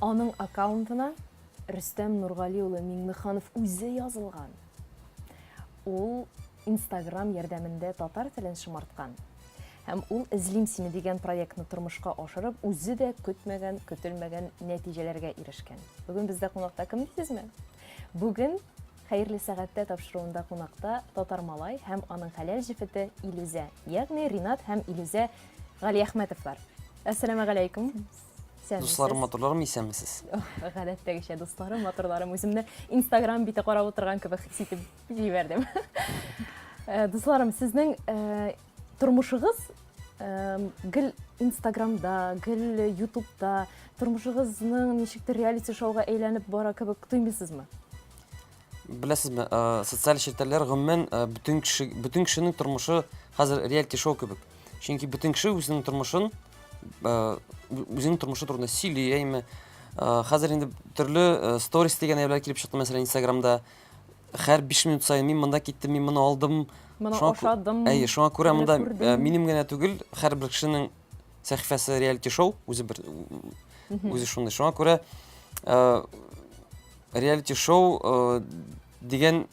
Аның аккаунтына Рөстәм Нургали улы Миңнеханов үзе язылган. Ул Instagram ярдәмендә татар телен шомарткан. Һәм ул Эзлим сине дигән проектны тормышка ашырып, үзе дә көтмәгән, көтелмәгән нәтиҗәләргә ирешкән. Бүген бездә кунакта кем дисезме? Бүген Хәерле сәгатьтә тапшыруында кунакта Татар малай һәм аның хәләл җефете Илүзә, ягъни Ринат һәм Илүзә Галиәхмәтовлар. Әссәламәгаләйкүм. Дусларым, матурларым, исәнмесез. Гадәттәгечә дусларым, матурларым, үземне Instagram бите карап утырган кебек хис итеп җибәрдем. Э, дусларым, сезнең э, Тормышыгыз гел инстаграмда гел ютубта тормышыгызның ничектер реалити шоуга әйләнеп бара кебек тоймыйсызмы беләсезме э, социаль челтәрләр гомумән э, бөтен кеше бөтен кешенең тормышы хәзер реалити шоу кебек чөнки бөтен кеше үзенең тормышын э, үзенең тормышы турында сөйли әйме хәзер инде төрле сторис дигән әйберләр килеп чыкты мәсәлән инстаграмда Хәр биш минут саен мин монда киттем, мин моны алдым. Моны Шуңа кү- ашадым. Әйе, шуңа күрә моны монда күрдем. э, минем генә түгел, һәрбер кешенең сәхифәсе реалити шоу, үзе бер Мгм. үзе шундый. Шуңа күрә э, реалити шоу э, дигән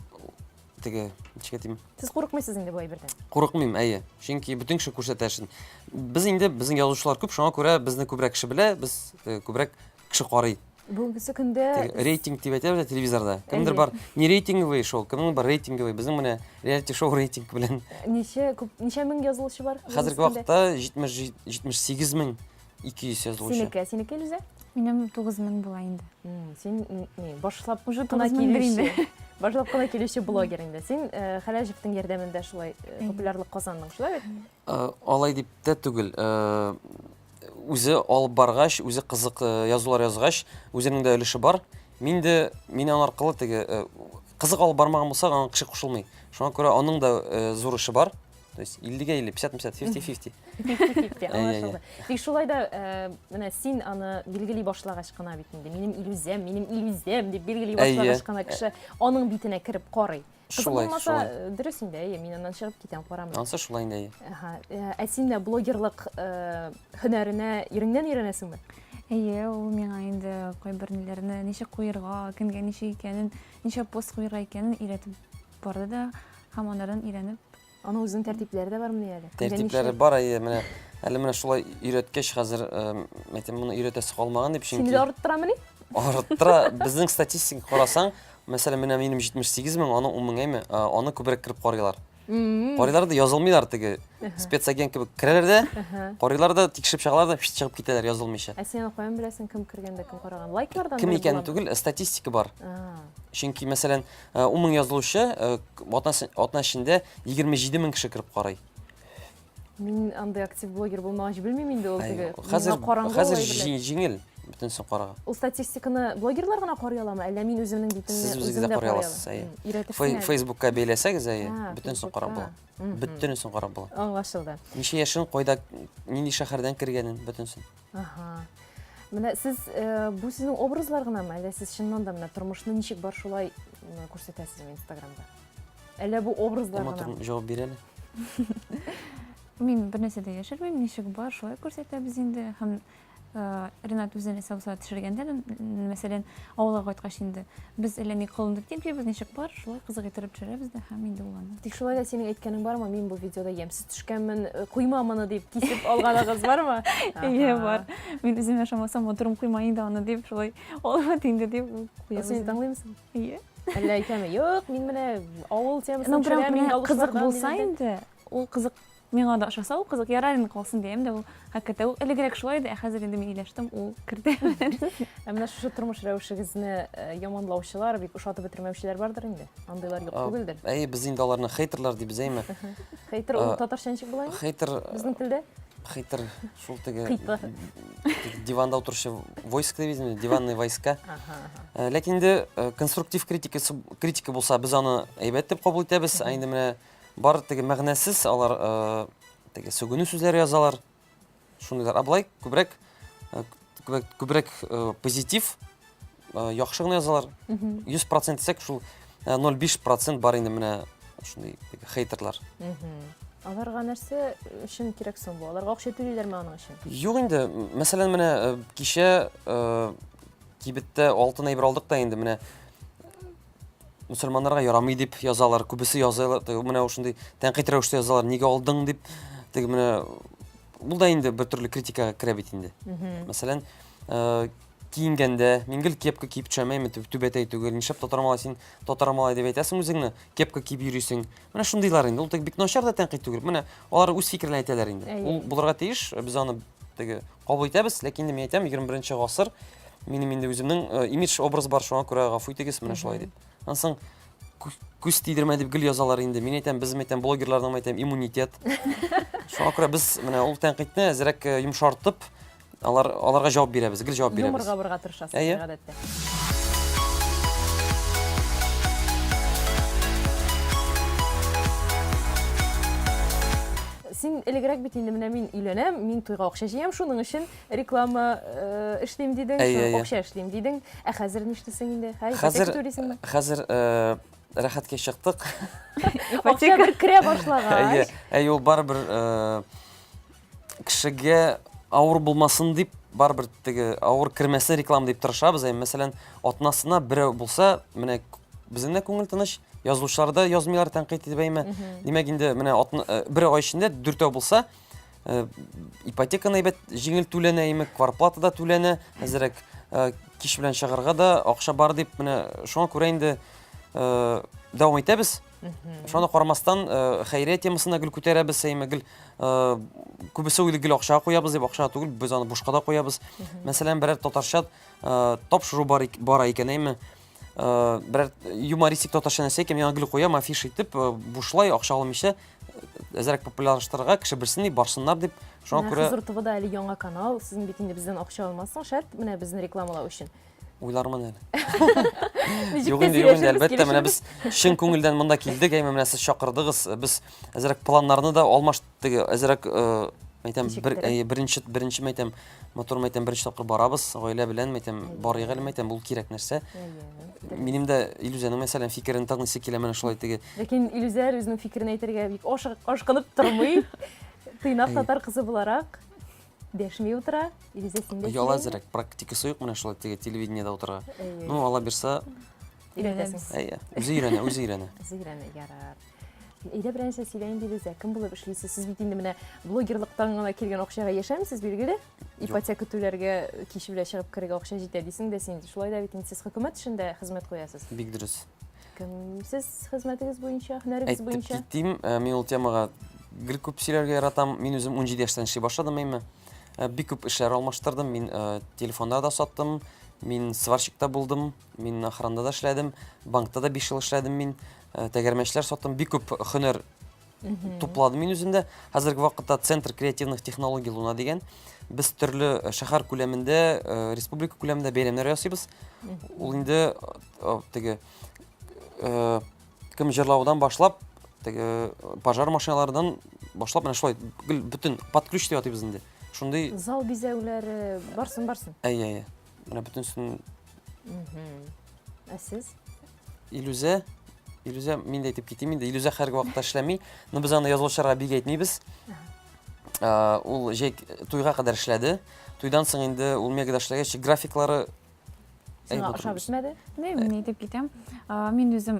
теге ничек әйтим? Сез курыкмыйсыз инде бу әйбердән. Курыкмыйм, әйе. Чөнки бөтен кеше күрсәтә эшен. Без инде безнең язучылар күп, шуңа күрә безне күбрәк кеше белә, без э, күбрәк кеше карый. Бүгенге көндә рейтинг дип әйтәбез телевизорда. Кемдер бар, не рейтинговый шоу, кемнең бар рейтинговый. Безнең менә реалити шоу рейтинг белән. Ничә күп, ничә мең язылучы бар? Хәзерге вакытта 70 78 мең 200 язылучы. Синеке, синеке Илүзә? Минем 9 мең була инде. Син не, башлап уже 9 мең инде. Башлап кына килүче блогер инде. Син э, Хәләҗевтең ярдәмендә шулай э, популярлык казандың, шулай бит? Э, алай дип тә түгел. үзе алып баргач, үзе кызык э, язулар язгач, үзенең дә өлеше бар. Мин дә мин аны аркылы теге э, кызык алып бармаган булса, аңа кеше кушылмый. Шуңа күрә аның да э, зур эше бар. То есть 50-гә 50, 50-50, 50-50. 50-50, аңлашылды. Тик шулай да, э, менә син аны билгели башлагач кына бит инде, минем илүзәм, минем илүзәм дип билгели башлагач кына кеше аның битенә кереп карый. Кызык Шулай, булмаса, шулай. э, дөрес инде, әйе, мин аннан чыгып китәм, карамыйм. Ансы шулай инде. әйе. Ага, э, Ә син дә блогерлык э, һөнәренә иреңнән өйрәнәсеңме? Әйе, ул миңа инде кайбер ниләрне ничек куерга, кемгә ничек икәнен, ничек пост куерга икәнен өйрәтеп барды да һәм анардан өйрәнеп Аның үзенең тәртипләре дә бармыни әле? Тәртипләре бар, әйе, менә әле менә шулай өйрәткәч, хәзер әйтәм, моны өйрәтәсе калмаган дип, чөнки Сине дә арттырамыни? Арттыра. Безнең статистика карасаң, мәсәлән, менә минем 78 мең, аның 10 меңеме, аны күбрәк кереп карыйлар. Карыйлар да язылмыйлар теге спецагент кебек керәләр дә, карыйлар да, тикшереп чыгалар да, чыгып китәләр язылмыйча. Ә син аны каян беләсең, кем кергән дә, кем караган? Лайклардан Кем икәнен түгел, статистика бар. Чөнки, мәсәлән, Э, ун мең язылучы э, атна эчендә егерме җиде мең кеше кереп карый мин андай актив блогер булмагач белмим инде ул теге хәзер хәзер җиңел бөтенесен карага ул статистиканы блогерлар гына карый аламы әллә мин үземнең битемне сез үзегез дә карый аласыз әйе фейсбукка бәйләсәгез әйе бөтенесен карап була бөтенесен карап була аңлашылды ничә яшен кайда нинди шәһәрдән кергәнен бөтенесен Ага. Менә сез э, бу сезнең образлар гынамы, әллә сез чыннан да менә тормышны ничек бар шулай м, күрсәтәсезме Инстаграмда? Әллә бу образлар Тома гынамы? торып җавап бирә әле. Мин бернәрсә дә яшермим, ничек бар, шулай күрсәтәбез инде. Һәм э, Ренат үзен әсә булса төшергәндә, м, мәсәлән, авылга кайткач инде, без әллә ни кылындык дип җибез, ничек бар, шулай кызык иттереп төшерәбез дә һәм инде ул аны. Тик шулай да синең әйткәнең бармы, мин бу видеода ямьсез төшкәнмен, э, куйма моны дип кисеп алганыгыз бармы? Әйе, бар. Мин үзем яшамасам, матурым куйма инде аны дип, шулай алма инде дип куябыз. Син тыңлыймсың? Әйе. Әллә әйтәме? Юк, мин менә авыл темасын төшерәм, мин кызык булса инде, ул кызык миңа да ошаса, ул кызык ярар инде калсын дигән дә ул Хакыйкәттә ул элегрәк шулай иде, ә хәзер инде мин иләштем, ул керде. Ә менә шушы тормыш рәвешегезне э, яманлаучылар, бик ошатып бетермәүчеләр бардыр инде. Андыйлар юк түгелдер. Әй, без инде аларны хейтерлар дибез, әйме? Хейтер ул татарча ничек була? Хейтер безнең телдә? Хейтер шул теге Хейтер. диванда утыручы войска дип әйтәбез, диванный войска. Э, ләкин инде э, конструктив критика критика булса, без аны әйбәт дип кабул итәбез. Ә инде менә Бар теге мәгънәсез алар теге сүгенү сүзләре язалар. Шундыйлар. А былай күбрәк күбрәк позитив яхшы гына язалар. 100% дисәк шул 0,5% бар инде менә шундый хейтерлар. Аларга нәрсә өчен кирәк соң бу? Аларга акча түлиләрме аның өчен? Юк инде. Мәсәлән, менә э, кичә э, кибеттә алтын әйбер алдык та инде менә Мөселманнарга ярамый дип язалар, күбесе язалар, менә шундый тәнкыйть рәвештә язалар, нигә алдың дип, теге менә бул да инде бер төрле критикага керә бит инде. Мәсәлән, э, киенгәндә мин гел кепка киеп төшәм, әйме түбәтәй түгел. Нишләп татар малай син татар малай дип әйтәсең үзеңне? Кепка киеп йөрисең. Менә шундыйлар инде. Ул теге бик начар да тәнкыйть түгел. Менә алар үз фикерләрен әйтәләр инде. Ул булырга тиеш. Без аны теге кабул итәбез, ләкин инде мин әйтәм, 21 гасыр минем инде үземнең э, имидж образ бар, шуңа күрә гафу итегез, менә шулай дип. Аннан соң күз тидермә дип гел язалар инде. Мин әйтәм, без әйтәм, блогерларның әйтәм, иммунитет. Шуңа күрә без менә ул тәнкыйтьне әзрәк э, йомшартып, Алар, аларга җавап бирәбез, гел җавап бирәбез. Юморга борга тырышасыз, Әйе. гадәттә. Син элегрәк бит инде менә мин өйләнәм, мин туйга акча җыям, шуның өчен реклама э, эшлим дидең, Әйе, шуның әйе. акча эшлим дидең. Ә хәзер нишлисең инде? Хәзер Хәзер, түлисеңме? хәзер э, рәхәткә чыктык. Акча бер керә башлагач. Әйе, әйе, ул барыбер э, кешегә авыр булмасын дип барыбер теге авыр кермәсен реклама дип тырышабыз әй мәсәлән атнасына берәү булса менә безнең дә күңел тыныч язучылар да язмыйлар тәнкыйть итеп әйме димәк инде менә э, бер ай эчендә дүртәү булса э, ипотеканы әйбәт җиңел түләнә әйме кварплата да түләнә әзерәк э, кич белән чыгарга да акча бар дип менә шуңа күрә инде дәвам итәбез Шуны карамастан, э, хәйрия темасына гел күтәрәбез, сәйме гел э, күбесе уйлый гел акча куябыз дип, акча түгел, без аны бушка да куябыз. Мәсәлән, берәр татарча э, тапшыру бар бара икән, әйме. Берәр юмористик татарча нәрсә икән, яңа гел куям, афиш итеп, бушлай акча алмыйча әзрәк популярлаштырырга, кеше белсен дип, барсыннар дип. Шуңа күрә Хәзер ТВда әле яңа канал, сез бит инде бездән акча алмассың, шәт, менә безне рекламалау өчен. уйлармын әле. Ничек тә сөйләшербез, әлбәттә, менә без чын күңелдән монда килдек, әйме менә сез чакырдыгыз. Без әзерәк планнарны да алмаш теге әзерәк мәйтәм бер беренче беренче мәйтәм мотор мәйтәм беренче тапкыр барабыз, гаилә белән мәйтәм барыйк әле мәйтәм ул кирәк нәрсә. Минем дә Илүзәнең мәсәлән фикерен тыңлыйсы килә менә шулай теге. Ләкин Илүзә үзенең фикерен әйтергә бик ашкынып тормый. Тыйнак татар кызы буларак. Дәшми утыра, Илизә син дә. Яла зирәк, практикасы юк менә шулай теге телевидениедә утыра. Ну, ала бирса, өйрәнәбез. Әйе, үзе өйрәнә, үзе өйрәнә. Үзе өйрәнә, ярар. Әйдә беренче сөйлә инде Илизә, кем булып эшлисез? Сез бит инде менә блогерлыктан гына килгән акчага яшәмисез, билгеле? Ипотека түләргә кич белән чыгып керергә акча җитә дисең дә син. Шулай да бит инде сез хөкүмәт эшендә хезмәт куясыз. Бик дөрес. Кем сез хезмәтегез буенча, һөнәрегез буенча? Әйтеп китим, э, мин ул темага гел күп сөйләргә яратам. Мин үзем 17 яшьтән эшли башладым әйме. Э, бик күп эшләр алмаштырдым. Мин э, телефонда да саттым, мин сварщикта булдым, мин охранда да эшләдем, банкта да 5 ел эшләдем мин. Тәгәрмәчләр саттым. Бик күп хөнәр тупладым мин үземдә. Хәзерге вакытта Центр креативных технологий Луна дигән. Без төрле э, шәһәр күләмендә, э, республика күләмендә бәйрәмнәр ясыйбыз. Ул инде э, теге кем җырлаудан башлап, теге пожар машиналардан башлап менә шулай бөтен под ключ дип атыйбыз инде. Шундый зал бизәүләре барсын барсын. Әйе, әйе. Менә бөтенесен Ә сез? Илүзә, Илүзә, мин дә әйтеп китим инде, Илүзә хәрге вакытта эшләми, но без аны язылышырга бик әйтмибез. Ул җәй туйга кадәр эшләде. Туйдан соң инде ул мегада эшләгәч, графиклары Сиңа ошап бетмәде? Белмим, ни дип китәм. Мин үзем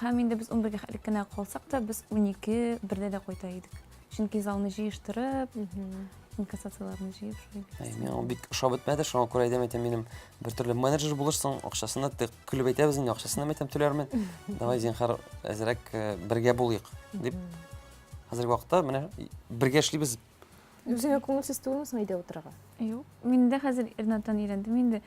Һәм инде без унбергә хәтлек кенә калсак та, без унике берлә дә кайта идек. Чөнки залны җыештырып, инкассацияләрне җыеп шулай. Әй, мин ул бик ошап бетмәде, шуңа күрә әйтәм, әйтәм, минем бер төрле менеджер булышсың, акчасына ты көлеп әйтәбез инде, акчасына әйтәм, түләрмен. Давай, зинхар, әзрәк э, бергә булыйк, дип. Хәзерге вакытта менә бергә эшлибез Үзеңә күңелсез түгелме соң өйдә утырырга? Юк. Мин дә хәзер Ирнаттан өйрәндем инде.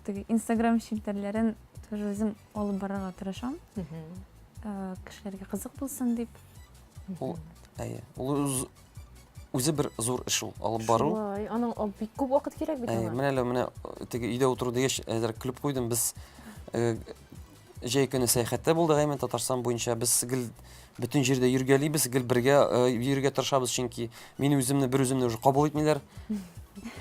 Теге Instagram челтәрләрен тоже үзем алып барырга тырышам. Э, Кешеләргә кызык булсын дип. Ул әйе. Ул үз- үзе бер зур эш ул. Алып бару. Шулай. Аның а, бик күп вакыт кирәк бит Әйе, аңа. менә әле менә э, теге өйдә утыру дигәч, әзер клип куйдым. Без э, Җәй көне сәяхәттә булдык әймен Татарстан буенча. Без гел бөтен җирдә йөргәлибез, гел бергә э, йөрергә тырышабыз, чөнки мин үземне бер үземне уже кабул итмиләр.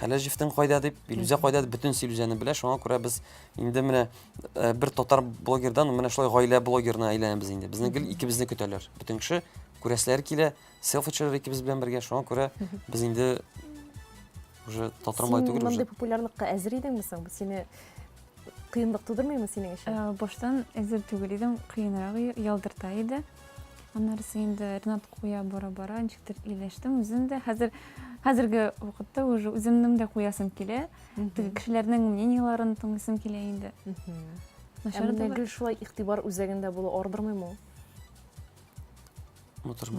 Әле җифтең кайда дип, Илүзә кайда дип бөтен Илүзәне белә. Шуңа күрә без инде менә э, бер татар блогердан менә шулай гаилә блогерына әйләнәбез инде. Безне гел икебезне көтәләр. Бөтен кеше күрәселәре килә, селфи төшерер икебез белән бергә шуңа күрә без инде уже татармай түгел уже популярлыкка әзер идеңме соң сине кыенлык тудырмыймы синең өчен э, баштан әзер түгел идем кыенрак ялдырта иде аннарысы инде ринат куя бара бара ничектер ияләштем үзем дә хәзер хәзерге вакытта уже үземнең дә куясым килә теге кешеләрнең мнениеларын тыңлыйсым килә инде ә менә гел шулай игътибар үзәгендә булу ардырмыймы ул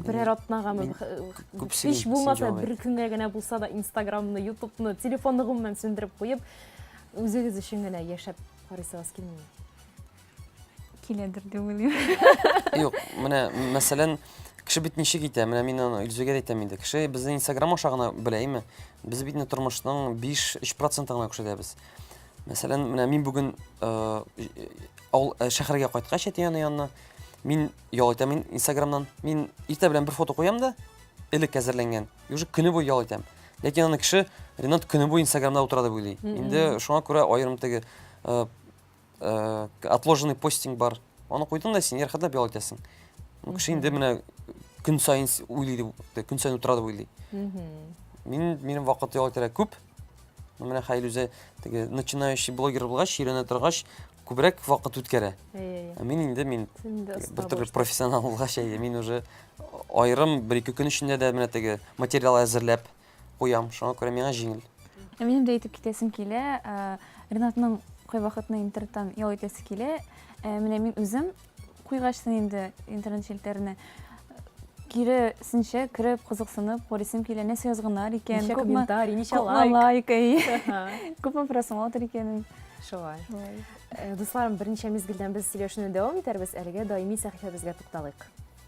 Берәр атнагамы һич булмаса бер көнгә генә булса да инстаграмны ютубны телефонны гомумән сүндереп куеп үзегез өчен генә яшәп карыйсыгыз килмиме киләдер дип уйлыйм юк менә мәсәлән кеше бит ничек итә менә мин аны илзүгә әйтәм инде кеше безне инстаграм аша гына белә име без бит тормышның биш өч процентын гына күрсәтәбез мәсәлән менә мин бүген авыл шәһәргә кайткач әти аны янына Мин ял итәм мин Инстаграмнан. Мин иртә белән бер фото куям да, элек әзерләнгән. И уже көне буе ял итәм. Ләкин аны кеше Ренат көне буе Инстаграмда утыра дип уйлый. Инде шуңа күрә аерым теге э, э, отложенный постинг бар. Аны куйдың да син ярхатлап ял итәсең. Ну, кеше инде менә көн сайын с- уйлый дип, те- көн сайын утыра дип уйлый. Мин минем вакыт ял итәргә күп. Ну, Менә Хәйл үзе теге начинающий блогер булгач, өйрәнә торгач, күбрәк вакыт үткәрә. Ә мин инде мин бер төрле профессионал булгач, әйе, мин уже аерым бер-ике көн эчендә дә менә теге материал әзерләп куям. Шуңа күрә миңа җиңел. Ә минем дә әйтеп китәсем килә. Ренатның кайвакытны интернеттан ял итәсе килә. Ә менә мин үзем Куйгачсың инде интернет челтәренә. Киресенчә кереп, кызыксынып, карыйсым килә, нәрсә язганнар икән, Ничә күпме комментарий, ничә күпме лайк. лайк, әйе. Ага, Күпме просмотр икәнен. Шулай. Шулай. Э, Дусларым, берничә мизгелдән без сөйләшүне дәвам итәрбез. Әлегә даими сәхифәбезгә тукталыйк.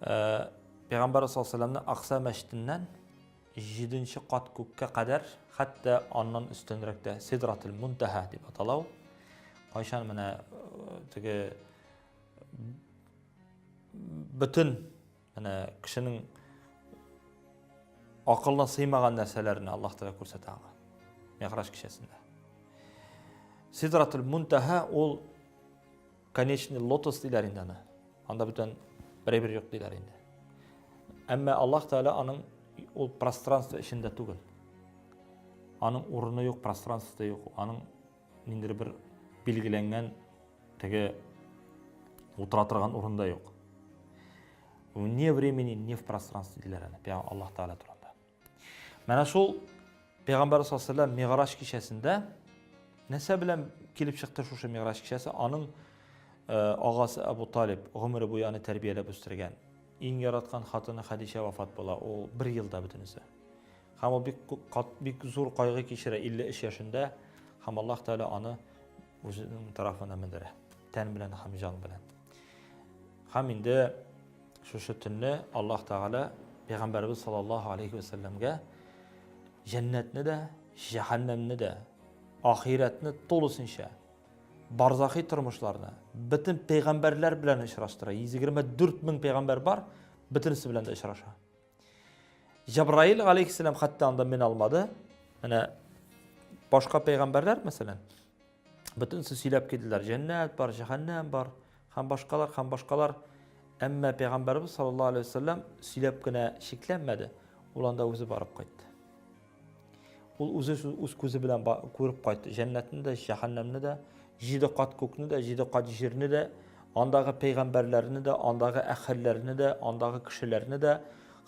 Пәйгамбәр саллаллаһу Акса мәчетеннән җиденче кат күккә кадәр, хәтта аннан өстенрәк тә Сидратул Мунтаһа дип аталау. Кайчан менә э, теге бөтен менә кешенең акылына сыймаган нәрсәләрне Аллаһ Тәгалә күрсәтә аңа. Мигъраж кичәсендә. Сидратул Мунтаһа ул Конечный лотос диләр инде аны. Анда бүтән берәй бер юк диләр инде. Әмма Аллаһ Тәгалә аның ул пространство эчендә түгел. Аның урыны юк, пространствосы да юк. Аның ниндер бер билгеләнгән теге утыра торган урында юк. Не времени, не в пространстве диләр аны, Аллаһ Тәгалә турында. Менә шул Пәйгамбәрбез саллаллаһу алейһи ва сәлләм Мигъраҗ кичәсендә нәрсә белән килеп чыкты шушы Мигъраҗ кичәсе? Аның агасы Абу Талиб гомере буе аны тәрбияләп үстергән. Иң яраткан хатыны Хадичә вафат була. Ул бер елда бөтенесе. Һәм ул бик бик зур кайгы кичерә 53 яшендә һәм Аллаһ Тәгалә аны үзенең тарафына мендерә. Тән белән һәм җан белән. Һәм инде шушы төнне Аллаһ Тәгалә Пәйгамбәрбез саллаллаһу алейхи вәсәлләмгә җәннәтне дә, җәһәннәмне дә, ахирәтне тулысынча барзахи тормышларны бөтен пәйгамбәрләр белән очраштыра. 124 мең пәйгамбәр бар, бөтенесе белән дә очраша. Җабраил алейхиссалам хәтта анда мен алмады. Менә башка пәйгамбәрләр, мәсәлән, бөтенесе сөйләп килделәр. Җәннәт бар, җәһәннәм бар, һәм башкалар, һәм башкалар. Әмма пәйгамбәрбез саллаллаһу алейхи вәсәлләм сөйләп кенә чикләнмәде. Ул анда үзе барып кайтты. Ул үзе үз күзе белән күреп кайтты. Җәннәтне дә, җәһәннәмне дә, җиде кат күкне дә, җиде кат җирне дә, андагы пәйгамбәрләрне дә, андагы әхәлләрне дә, андагы кешеләрне дә,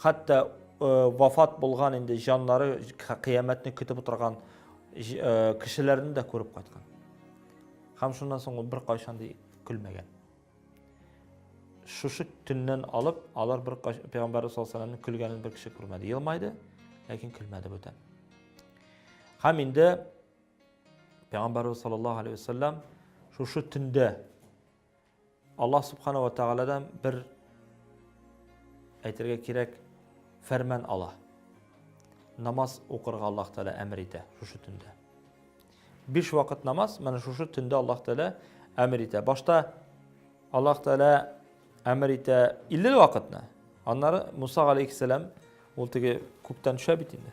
хәтта э, вафат булган инде җаннары кыяметне көтеп утырган э, кешеләрне дә күреп кайткан. Һәм шуннан соң ул беркайчан ди көлмәгән. Шушы төннән алып, алар бер пәйгамбәрбез саллаллаһу алейһи вәсәлләмнең көлгәнен бер кеше күрмәде. Елмайды, ләкин көлмәде бүтән. Һәм инде пәйгамбәрбез саллаллаһу алейһи вәсәлләм шушы төндә Аллаһ субхана ва тааладан бер әйтергә кирәк фәрман ала. Намаз укырга Аллаһ Тәгалә әмер итә шушы төндә. Биш вакыт намаз, менә шушы төндә Аллаһ Тәгалә әмер итә. Башта Аллаһ Тәгалә әмер итә 50 вакытны. Аннары Муса алейхиссалам ул теге күктән төшә бит инде.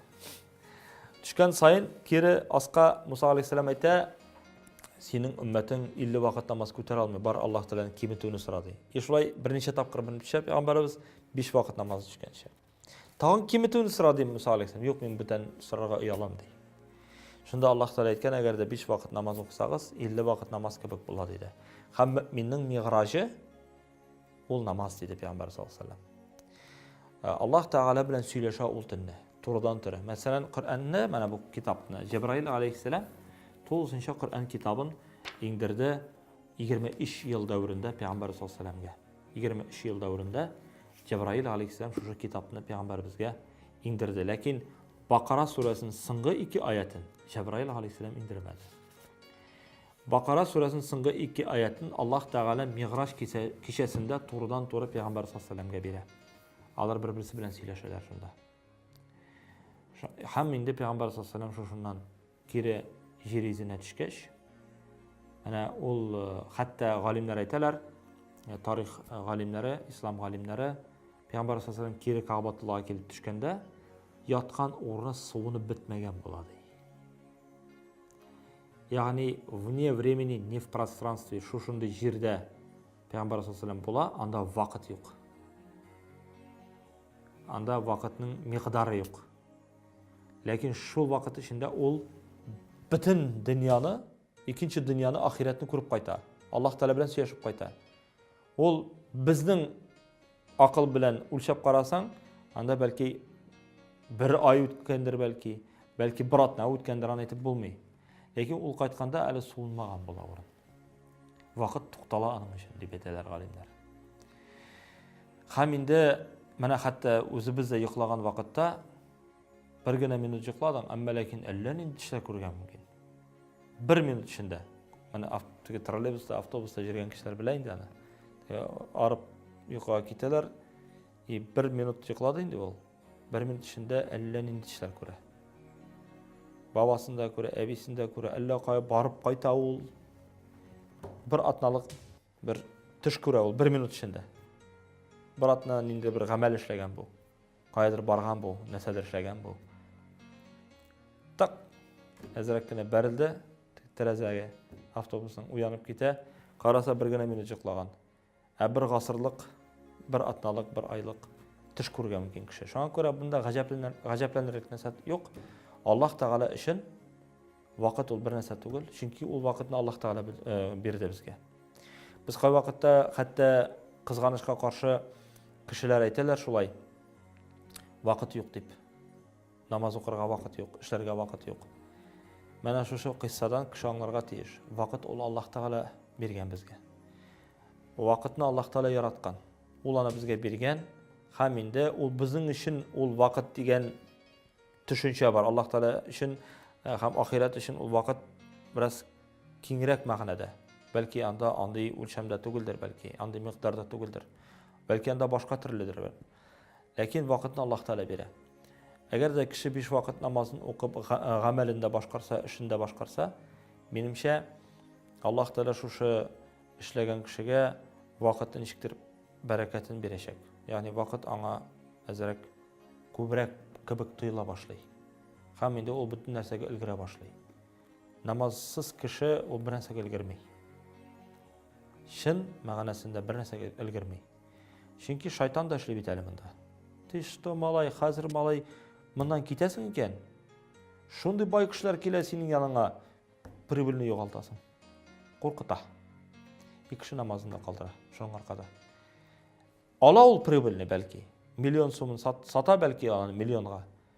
Төшкән саен кире аска Муса алейхиссалам әйтә, синең өммәтең 50 вакыт намаз күтәрә алмый, бар Аллаһ Тәгаләнең киметүне сора ди. И шулай берничә тапкыр менеп төшә пәйгамбәребез 5 вакыт намаз төшкәнчә. Тагын киметүне сора ди Муса алейхиссалам. Юк, мин бүтән сорарга оялам ди. Шунда Аллаһ Тәгалә әйткән, әгәр дә 5 вакыт намаз укысагыз, 50 вакыт намаз кебек була диде. Һәм мөминнең мигъражы ул намаз диде Пәйгамбәр саллаллаху алейхи ва э, Аллаһ Тәгалә белән сөйләшә ул төнне, турыдан туры. Мәсәлән, Коръәнне, менә бу китапны Җәбраил алейхиссалам тулысынча Коръән китабын иңдерде 23 ел дәверендә Пәйгамбәр саллаллаху алейхи ва 23 ел дәверендә Җәбраил алейхиссәлам шушы китапны пәйгамбәребезгә иңдерде. Ләкин Бакара сүрәсен соңгы ике аятын Җәбраил алейхиссәлам иңдермәде. Бакара сүрәсен соңгы ике аятын Аллаһ Тәгалә Мигъраж кичәсендә турыдан туры пәйгамбәр саллаллаһу бирә. Алар бер-берсе белән сөйләшәләр шунда. Һәм инде пәйгамбәр саллаллаһу алейһи шушыннан Кире җир йөзенә төшкәч, әнә ул хәтта галимнәр әйтәләр, тарих галимнәре, ислам галимнәре, Пәйгамбәр саллаллаху кире Кәгъбатуллага килеп төшкәндә, яткан урыны суынып бетмәгән була ди. Ягъни вне времени, не в пространстве, шушындый җирдә Пәйгамбәр саллаллаху була, анда вакыт юк. Анда вакытның микъдары юк. Ләкин шул вакыт эчендә ул бөтен дөньяны, икенче дөньяны, ахирәтне күреп кайта. Аллаһ Тәгалә белән сөйләшеп кайта. Ул безнең акыл белән үлчәп карасаң, анда бәлки бер ай үткәндер бәлки, бәлки бер атна үткәндер, аны әйтеп булмый. Ләкин ул кайтканда әле суынмаган була урын. Вакыт туктала аның өчен, дип әйтәләр галимнәр. Хәм инде менә хәтта үзебез дә йоклаган вакытта бер генә минут йокладың, әмма ләкин әллә нинди төшләр күргән мөмкин. Бер минут эчендә. Менә теге троллейбуста, автобуста йөргән кешеләр белә инде аны. Арып йокыга китәләр, и бер минут йоклады инде ул. Бер минут эчендә әллә нинди төшләр күрә. Бабасын да күрә, әбисен дә күрә, әллә кая барып кайта ул. Бер атналык бер төш күрә ул бер минут эчендә. Бер атна нинди бер гамәл эшләгән бу. Каядыр барган бу, нәрсәдер эшләгән бу. Так, әзрәк кенә бәрелде тәрәзәгә. Автобусның уянып китә. Караса бер генә минут йоклаган. Ә бер гасырлык, бер атналык, бер айлык төш күрергә мөмкин кеше. Шуңа күрә монда гаҗәпләнерлек нәрсә юк. Аллаһ Тәгалә өчен вакыт ул бер нәрсә түгел, чөнки ул вакытны Аллаһ Тәгалә э, бирде безгә. Без кай вакытта хәтта кызганычка каршы кешеләр әйтәләр шулай, вакыт юк дип. Намаз укырга вакыт юк, эшләргә вакыт юк. Менә шушы кыйссадан кеше аңларга тиеш. Вакыт ул Аллаһ Тәгалә биргән безгә. Вакытны Аллаһ Тәгалә яраткан. Ул аны безгә биргән. Һәм инде ул безнең өчен ул вакыт дигән төшенчә бар. Аллаһ Тәгалә өчен э, һәм ахирәт өчен ул вакыт бераз киңрәк мәгънәдә. Бәлки анда андый үлчәмдә түгелдер, бәлки андый микъдарда түгелдер. Бәлки анда башка төрледер. Ләкин вакытны Аллаһ Тәгалә бирә. Әгәр дә кеше биш вакыт намазын укып, гамәлен дә башкарса, эшен дә башкарса, минемчә, Аллаһ Тәгалә шушы эшләгән кешегә вакытны ничектер бәрәкәтен бирәчәк. Ягъни вакыт аңа әзрәк күбрәк кебек тоела башлый. Һәм инде ул бөтен нәрсәгә өлгерә башлый. Намазсыз кеше ул бер нәрсәгә өлгерми. Чын мәгънәсендә бер нәрсәгә өлгерми. Чөнки шайтан да эшли бит әле монда. Ты что, малай, хәзер малай моннан китәсең икән? Шундый бай кешеләр килә синең яныңа, прибыльне югалтасың. Куркыта. Икши намазында калдыра, шуның аркада. Ала ул прибыльне бәлки, миллион сумын сата бәлки аны миллионга.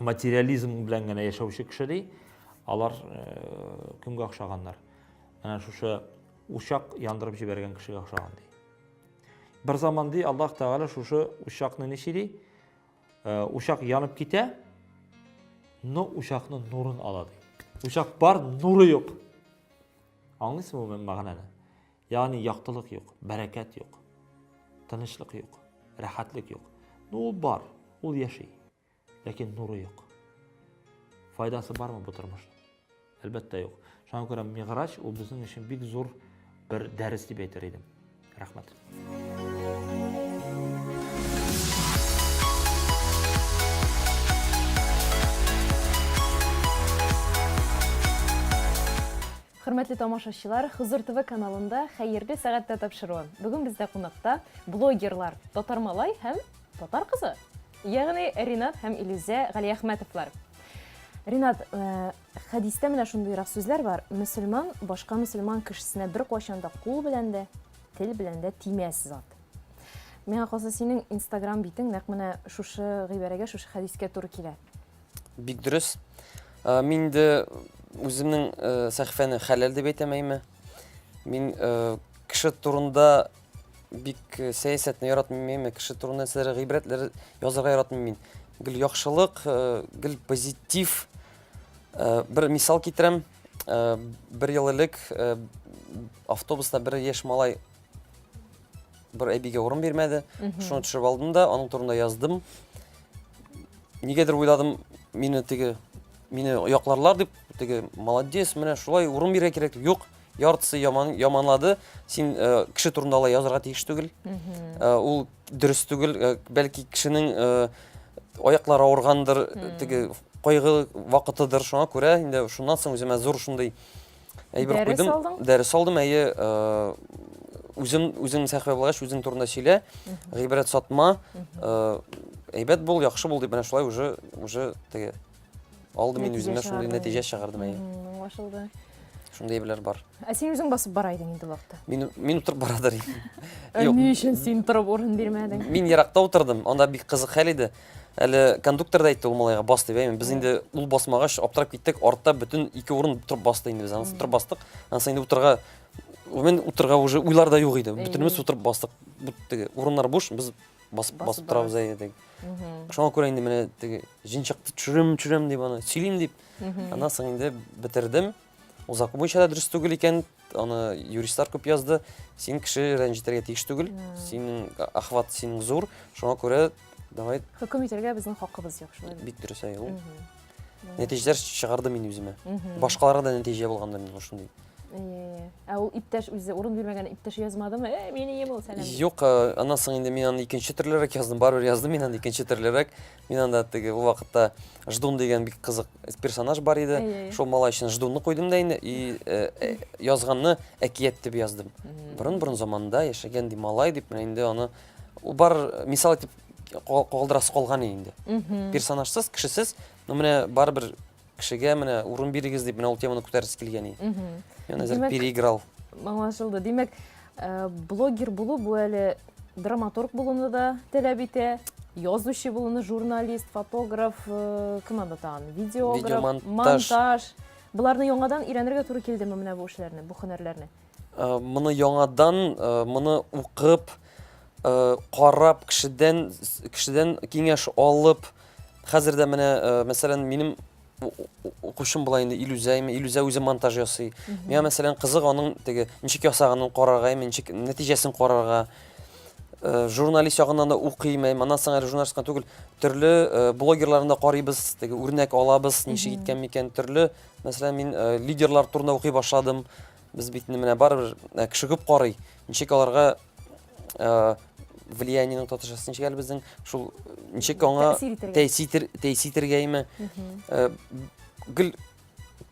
материализм белән генә яшәүче кеше ди алар э, кемгә охшаганнар менә шушы учак яндырып җибәргән кешегә охшаган ди бер заман ди аллаһ тәгалә шушы учакны ничи ди э, учак янып китә но учакны нурын ала ди учак бар нуры юк аңлыйсыңмы мәгънәне Ягъни яктылык юк, бәрәкәт юк, тынычлык юк, рәхәтлек юк. Ну ул бар, ул яши. Ләкин нуры юк. Файдасы бармы бу тормышның? Әлбәттә юк. Шуңа күрә Мигъраҗ ул безнең өчен бик зур бер дәрес дип әйтер идем. Рәхмәт. Хөрмәтле тамашачылар, Хозур ТВ каналында Хәерле сәгатьтә тапшыруы. Бүген бездә кунакта блогерлар Татар малай һәм Татар кызы. Ягъни Ринат һәм Илүзә Галиәхмәтовлар. Ринат, э, хәдистә менә шундыйрак сүзләр бар. Мөселман башка мөселман кешесенә бер кайчан да кул белән дә, тел белән дә тимәс зат. Миңа калса, синең Instagram битең нәкъ менә шушы гыйбарәгә, шушы хәдискә туры килә. Бик дөрес. Ә, Мин дә үземнең ә, сәхифәне хәләл дип әйтәм, әйме. Мин ә, кеше турында бик ә, сәясәтне яратмыйм, әйме. Кеше турында нәрсәләр гыйбрәтләр язарга яратмыйм мин. Гел яхшылык, ә, гел позитив. Ә, Бер мисал китерәм. Ә, Бер ел элек ә, автобуста бер яшь малай Бер әбигә урын бирмәде. Шуны төшереп алдым да, аның турында яздым. Нигәдер уйладым, мине теге мине якларлар дип, теге молодец, менә шулай урын бирә кирәк. Юк, яртысы яман, яманлады. Син э, кеше турында алай язырга тиеш түгел. Э, ул дөрес түгел. Э, бәлки кешенең э, аяклары авыргандыр, теге кайгы вакытыдыр. Шуңа күрә инде шуннан соң үземә зур шундый Әйбер Дәрес куйдым. алдың? Дәрес алдым, әйе. Үзем, үзең сәхвә булгач, үзең турында сөйлә, гыйбрәт сатма. Әйбәт бул, яхшы бул дип, менә шулай уже, уже теге. Алды мин үземә шундый нәтиҗә чыгардым, әйе. Аңлашылды. Шундый әйберләр бар. Ә син үзең басып бара идең инде вакытта. Мин мин утырып барадыр. Юк. Ни өчен син торып урын бирмәдең? Мин еракта утырдым, анда бик кызык хәл иде. Әле кондуктор да әйтте ул малайга бас дип, әйме. Без инде ул басмагач аптырап киттек. Артта бүтән ике урын торып басты инде без. Анысы торып бастык. Анысы инде утырга мен утырга уже уйлар да юк иде. Бүтәнебез утырып бастык. Бүтәге урыннар буш, без басып басып торабыз әйе дип. Шуңа күрә инде менә теге җинчакты төшерәм, төшерәм дип аны сөйлим дип. Аннан соң инде бетердем. Ул закон буенча да дөрес түгел икән, аны юристлар күп язды. Син кеше рәнҗетергә тиеш түгел. Синең охват синең зур. Шуңа күрә давай Хөкем итәргә безнең хакыбыз юк, шулай бит дөрес әй ул. Нәтиҗәләр чыгарды мин үземә. Башкаларга да нәтиҗә булганда мин шундый. Ә ул иптәш үзе урын бирмәгән иптәш язмадымы? Э, мин ием ул сәлам. Юк, аннан соң инде мин аны икенче төрлерәк яздым, барыбер яздым мин аны икенче төрлерәк. Мин анда теге ул вакытта Ждун дигән бик кызык персонаж бар иде. Шул малай өчен Ждунны куйдым да инде и э, э, язганны әкият дип яздым. Борын-борын заманда яшәгән ди малай дип менә инде аны ул бар мисал итеп калдырасы калган инде. Персонажсыз, кешесез, но менә барыбер Кешегә менә урын бирегез дип менә ул теманы күтәргесе килгән иде. Мхм. Әзер переиграл. Аңлашылды. Димәк, э, блогер булу бу әле драматург булуны да таләп итә, язучы булуны, журналист, фотограф, э, кем анда тагын? Видеограф, монтаж. Буларны яңадан өйрәнергә туры килдеме менә бу эшләрне, бу һөнәрләрне? Э, моны яңадан э, моны укып э, карап кешедән кешедән киңәш алып хәзер дә менә мәсәлән минем укучым була инде илүзә име илүзә үзе монтаж ясый миңа мәсәлән кызык аның теге ничек ясаганын карарга име ничек нәтиҗәсен карарга журналист ягыннан да укыйм әйм аннан соң әле журналист кына түгел төрле блогерларны да карыйбыз теге үрнәк алабыз ничек иткән микән төрле мәсәлән мин лидерлар турында укый башладым Без бит менә барыбер э, кеше күп карый. Ничек аларга э, влияниенең татарчасы ничек әле безнең шул ничек аңа тәэсир тәэсир итергәме? Э, гел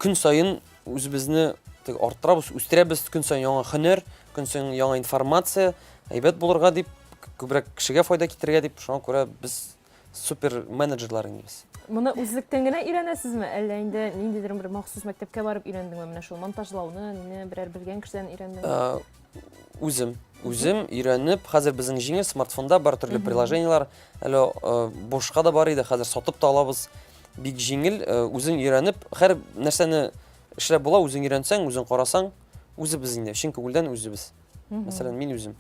көн сайын үзебезне арттырабыз, үстерәбез көн сайын яңа хөнәр, көн сайын яңа информация, әйбәт булырга дип, күбрәк кешегә файда китерергә дип, шуңа күрә без супер менеджерлар инде без. Моны үзлектән генә өйрәнәсезме, әллә инде ниндидер бер махсус мәктәпкә барып өйрәндеңме менә шул монтажлауны, нине берәр белгән кешедән өйрәндеңме? Э, үзем, үзем өйрәнеп, хәзер безнең җиңел смартфонда бар төрле приложениелар, әле э, бушка да бар иде, хәзер сатып та алабыз. Бик җиңел, э, үзең өйрәнеп, һәр нәрсәне эшләп була, үзең өйрәнсәң, үзең карасаң, үзебез инде, чын күңелдән үзебез. Мәсәлән, мин үзем.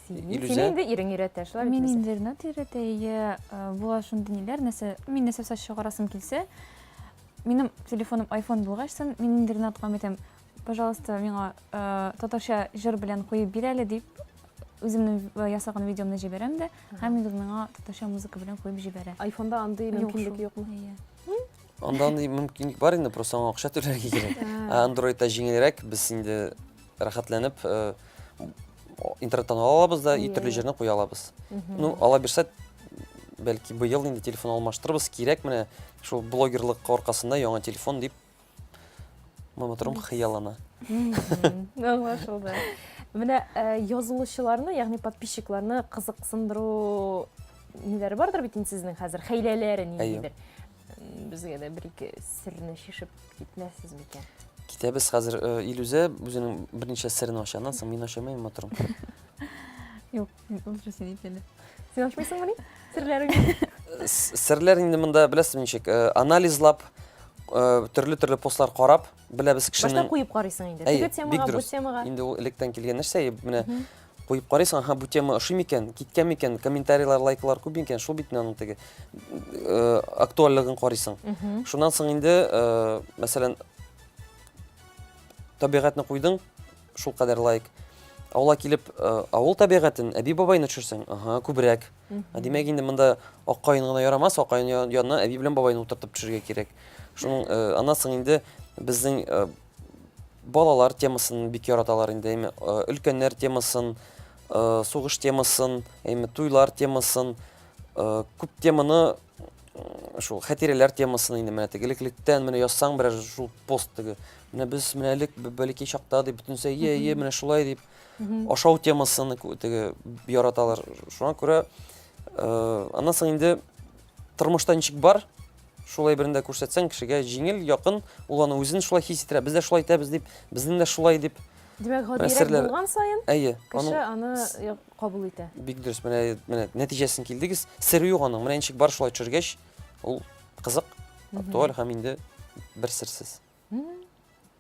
Син Илүзә? инде ирең өйрәтә, шулай бит? Мин Илүзә? инде Ренат өйрәтә, әйе, э, була шундый ниләр, нәрсә, мин нәрсә сач чыгарасым килсә, минем телефоным айфон булгач сон, мин инде Ренатка әйтәм, пожалуйста, миңа э, татарча җыр белән куеп бир әле дип, үземнең э, ясаган видеомны җибәрәм дә, һәм Илүз миңа татарча музыка белән куеп җибәрә. Айфонда андый Юк мөмкинлек шул. юкмы? Әйе. Анда андый мөмкинлек бар инде, просто аңа акча түләргә кирәк. Ә Android-та җиңелрәк, без инде рәхәтләнеп э, интернеттан ала алабыз да, и Иә, төрле иә. җирне куя алабыз. Ну, ала бирсә, бәлки быел инде телефон алмаштырырбыз, кирәк менә шул блогерлык аркасында яңа телефон дип Маматром хыяллана. Аңлашылды. Менә э, язылучыларны, ягъни подписчикларны кызыксындыру ниләре бардыр бит инде сезнең хәзер, хәйләләре ниндидер. Безгә дә бер-ике серне шишеп китмәссез микән? Китәбез хәзер. Э, Илүзә үзенең берничә серен ача. Аннан соң мин ачамыйм, матурым. Юк, ул син ит әле. Син ачмыйсыңмы ни? Серләреңне? Э, серләр инде монда беләсез ничек, э, анализлап, төрле-төрле постлар карап, беләбез кешенең... Башта куеп карыйсың инде. Теге темага, бу темага. Инде ул электән килгән нәрсә, менә Куеп карыйсың, аха, бу тема ошый микән, киткән микән, комментарийлар, лайклар күп микән, шул бит аның теге э, актуальлыгын карыйсың. Шуннан соң инде, э, мәсәлән, табигатьне куйдың, шул кадәр лайк. Авылга килеп, э, авыл табигатен, әби бабайны төшерсәң, аха, күбрәк. Ә димәк инде монда аккаен гына ярамас, аккаен янына әби белән бабайны утыртып төшергә кирәк. Шуның э, аннан соң инде безнең э, Балалар темасын бик яраталар инде, әйме, өлкәннәр темасын, сугыш темасын, әйме, туйлар темасын, күп теманы шул хәтирәләр темасын инде менә теге элеклектән менә язсаң берәр шул пост теге менә без менә элек бәләкәй чакта дип бөтенесе ие ие менә шулай дип ашау темасын теге яраталар шуңа күрә аннан соң инде тормышта ничек бар Шулай берен дә күрсәтсәң, кешегә җиңел, якын, ул аны үзен шулай хис иттерә. Без дә шулай итәбез дип, безнең дә шулай дип. Димәк, гадиерәк булган саен, әйе, кеше аны кабул итә. Бик дөрес, менә, менә нәтиҗәсен килдегез. Сере юк аның. Менә ничек бар шулай төшергәч, ул кызык, актуаль һәм инде бер серсез.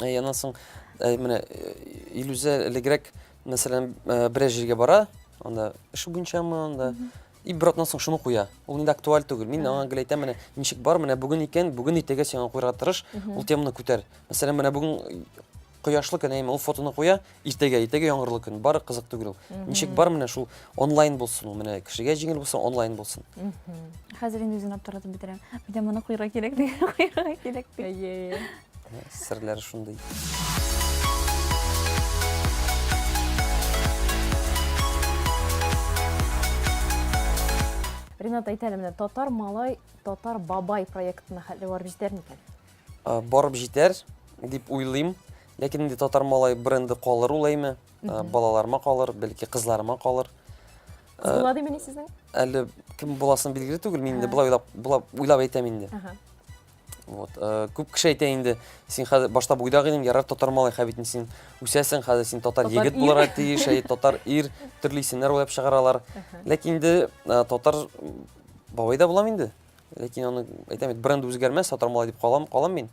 Ә яннан соң ә, менә э, Илүзә элегрәк, мәсәлән, э, берәр җиргә бара, анда эше буенчамы, анда и бер атнан соң шуны куя. Ул инде актуаль түгел. Мин аңа гел әйтәм, менә ничек бар, менә бүген икән, бүген иртәгә сиңа куярга тырыш, ул теманы күтәр. Мәсәлән, менә бүген кояшлы көн, әйме, ул фотоны куя, Иртәгә, иртәгә яңгырлы көн, бары кызык түгел ул. Ничек бар менә шул онлайн булсын ул, менә кешегә җиңел булсын, онлайн булсын. Хәзер инде үзен аптыратып бетерәм. Әйдә моны куйырга кирәк, куйырга кирәк. Әйе. Серләр шундый. Ринат, әйтәле, менә татар малай, татар бабай проектына хәтле барып җитәр микән? Барып җитәр дип уйлыйм. Ләкин инде татар малай бренды калыр ул әйме. Балаларыма калыр, бәлки кызларыма калыр. Кыз була димени сезнең? Әле кем буласын билгеле түгел, мин инде болай уйлап, уйлап әйтәм инде. Вот. Күп кеше әйтә инде, син хәзер башта буйдак идең, ярар татар малай, хәбитен син үсәсең, хәзер син татар егет булырга тиеш, әй татар ир, төрле исемнәр уйлап чыгаралар. Ләкин инде татар бабай да булам инде. ләкин аны әйтәм бит бренд үзгәрмәс сатар малай дип калам калам мин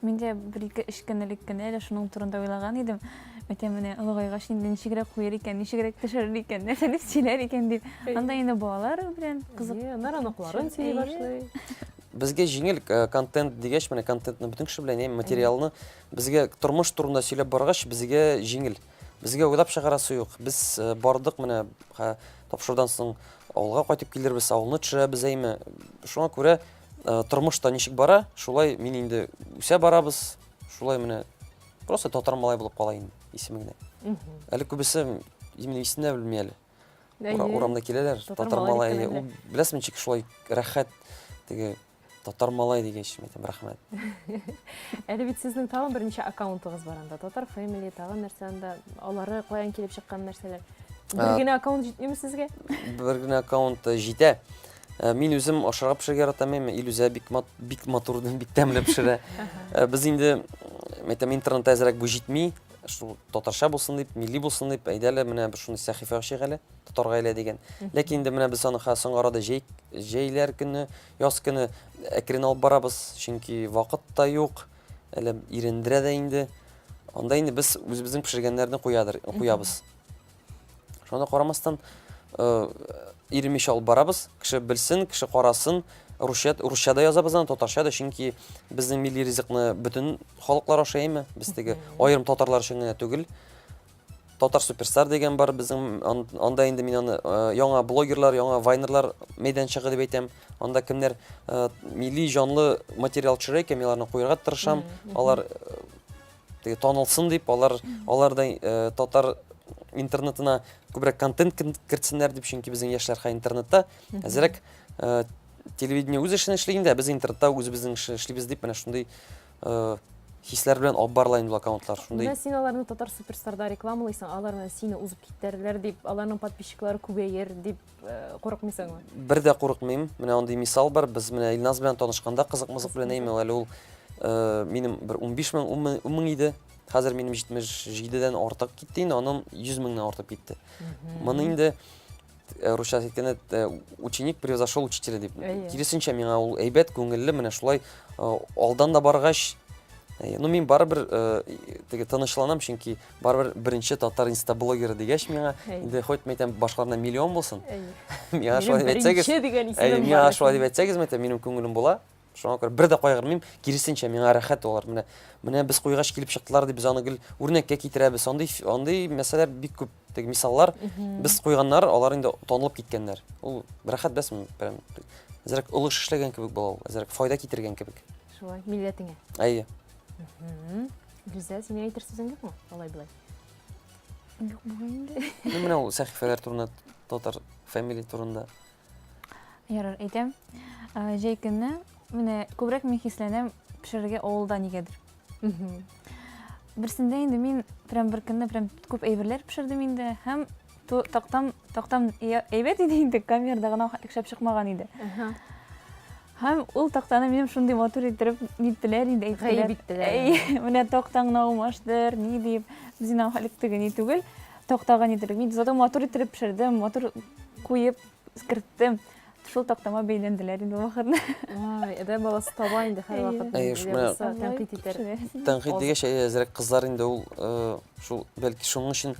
мин дә бер ике өч көн элек кенә әле шуның турында уйлаган идем әйтә менә олыгайгач инде ничегрәк куер икән ничегрәк пешерер икән нәрсә дип сөйләр икән дип анда инде балалар белән кызык алар оныкларын сөйли башлый безгә җиңел э, контент дигәч менә контентны бөтен кеше белән материалны безгә тормыш турында сөйләп баргач безгә җиңел Безгә уйлап чыгарасы юк. Без э, бардык менә тапшырудан соң авылга кайтып килербез, авылны төшерәбез әйме. Шуңа күрә э, тормыш та ничек бара, шулай мин инде үсә барабыз, шулай менә просто татар малай булып кала инде исеме генә. Әле күбесе именно исемне дә белми әле. Урамда киләләр, татар малай. Беләсең ничек шулай рәхәт теге Татар малай дигәч, әйтәм, рәхмәт. Әле бит сезнең тагын берничә аккаунтыгыз бар анда. Татар Family, тагын нәрсә анда. Алары каян килеп чыккан нәрсәләр? Бер Ә. генә аккаунт җитмиме сезгә? Бер генә аккаунт э, җитә. Э, Мин үзем ашарга пешерергә яратам, әмма Илүзә бик мат, бик матур, бик тәмле пешерә. Э, Без инде, м, әйтәм, интернетта әзрәк бу җитми. Шул татарча булсын дип, милли булсын дип, әйдә әле менә бер шундый сәхифә ачыйк әле. тотар гаилә дигән. Ләкин инде менә без аны хәзер соңгы арада җәй, җәйләр көне, яз көне әкрен алып барабыз, чөнки вакыт та юк, әле ирендерә дә инде. Анда инде без үзебезнең пешергәннәрне куядыр, куябыз. Шуңа карамастан, э, иремеш алып барабыз, кеше белсен, кеше карасын, русча, русча да язабыз аны, татарча да, чөнки безнең милли ризыкны бөтен халыклар ашаймы, без теге аерым татарлар өчен генә түгел. Татар суперстар дигән бар безнең анда инде мин аны яңа блогерлар, яңа вайнерлар мәйданчыгы дип әйтәм. Анда кемнәр милли җанлы материал төшерә икән, мин аларны куярга тырышам. Алар теге танылсын дип, алар алар да татар интернетына күбрәк контент кертсеннәр дип, чөнки безнең яшьләр хәзер интернетта әзрәк телевидение үз эшен эшли инде, ә без интернетта үзебезнең эшне эшлибез дип, менә шундый э, хисләр белән алып барыла инде аккаунтлар шундый менә син аларны татар суперстарда рекламалыйсың алар менә сине узып китәрләр дип аларның подписчиклары күбәер дип э, курыкмыйсыңмы бер дә курыкмыйм менә андый мисал бар без менә илназ белән танышканда кызык мызык белән әйме әле ул э, минем бер унбиш мең ун мең иде хәзер минем җитмеш җидедән артык китте инде анын йөз меңнән артып китте моны инде Э, русча әйткәндә э, ученик превзошел учителя дип киресенчә миңа ул әйбәт күңелле менә шулай э, алдан да баргач ну мин барыбер теге тынычланам чөнки барыбер беренче татар инста блогеры дигәч миңа инде хоть мен әйтәм башкаларда миллион булсын миңа шулай дип әйтсәгез миңа шулай дип әйтсәгез мен әйтәм минем күңелем була Шуңа күрә бер дә кайгырмыйм, киресенчә миңа рәхәт алар. Менә менә без куйгач килеп чыктылар дип без аны гел үрнәккә китерәбез. Андый андый мәсьәләләр бик күп. Теге мисаллар без куйганнар, алар инде танылып киткәннәр. Ул рәхәт бәс мин прям әзрәк олы эш эшләгән кебек була ул, әзрәк файда китергән кебек. Шулай, милләтеңә. Әйе. Гүзәл, синең әйтер сүзең юкмы? Алай булай. Юк, була инде. Менә ул сәхифәләр турында, татар фамилия турында. Ярар, әйтәм. Җәй көнне менә күбрәк мин хисләнәм пешерергә авылда нигәдер. Берсендә инде мин прям бер көнне прям күп әйберләр пешердем инде һәм тактам тактам әйбәт иде инде камерада гына шәп чыкмаган иде. Һәм ул тактаны минем шундый матур иттереп ниттеләр инде әйттеләр. Гаеп иттеләр. Әй, менә тактаң гына алмаштыр, ни дип, без инде халык тегени түгел. Тактага ниттелек. Мин зато матур иттереп пешердем, матур куеп керттем. Шул тактама бәйләнделәр инде вакытны. Ай, әдәм баласы таба инде һәр вакыт. Әй, шуны тәнкыйть итәр. Тәнкыйть дигәч, әзрәк кызлар инде ул шул бәлки шуның өчен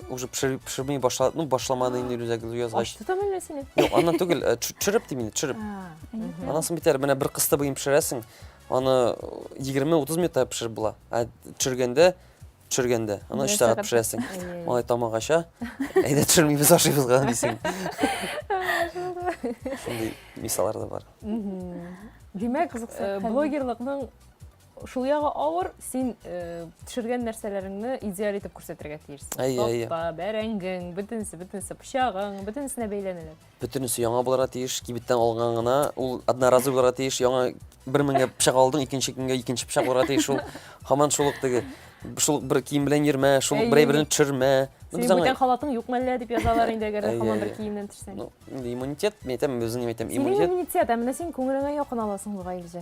уже пешермей башлады ну башламады инде рюкзак язгач ачты да менә сине юк аннан түгел э, төшереп дим инде төшереп аннан соң бит әле менә бер кысты буен пешерәсең аны егерме утыз минутта пешереп була ә төшергәндә төшергәндә аны өч сәгать пешерәсең малай тамак ача әйдә төшермибез ашыйбыз гына дисең шундый мисаллар да бар димәк э, блогерлыкның Шул ягы авыр, син пешергән нәрсәләреңне идеаль итеп күрсәтергә тиешсең. Әйе, әйе. Тапта, бәрәңгең, бөтенесе, бөтенесе, пычагың, бөтенесенә бәйләнелер. Бөтенесе яңа булырга тиеш, кибеттән алган гына, ул одноразовый булырга тиеш, яңа бер меңгә пычак алдың, икенче көнгә икенче пычак булырга тиеш, ул һаман шул ук теге шул бер кием белән йөрмә, шул бер әйберне төшермә. Синең бүтән халатың юк мәллә дип язалар инде, әгәр хаман бер киемнән төшсәң. Ну, иммунитет, мен әйтәм, безнең әйтәм, иммунитет. Синең иммунитет, ә менә син күңелеңә якын аласың бугай үзе.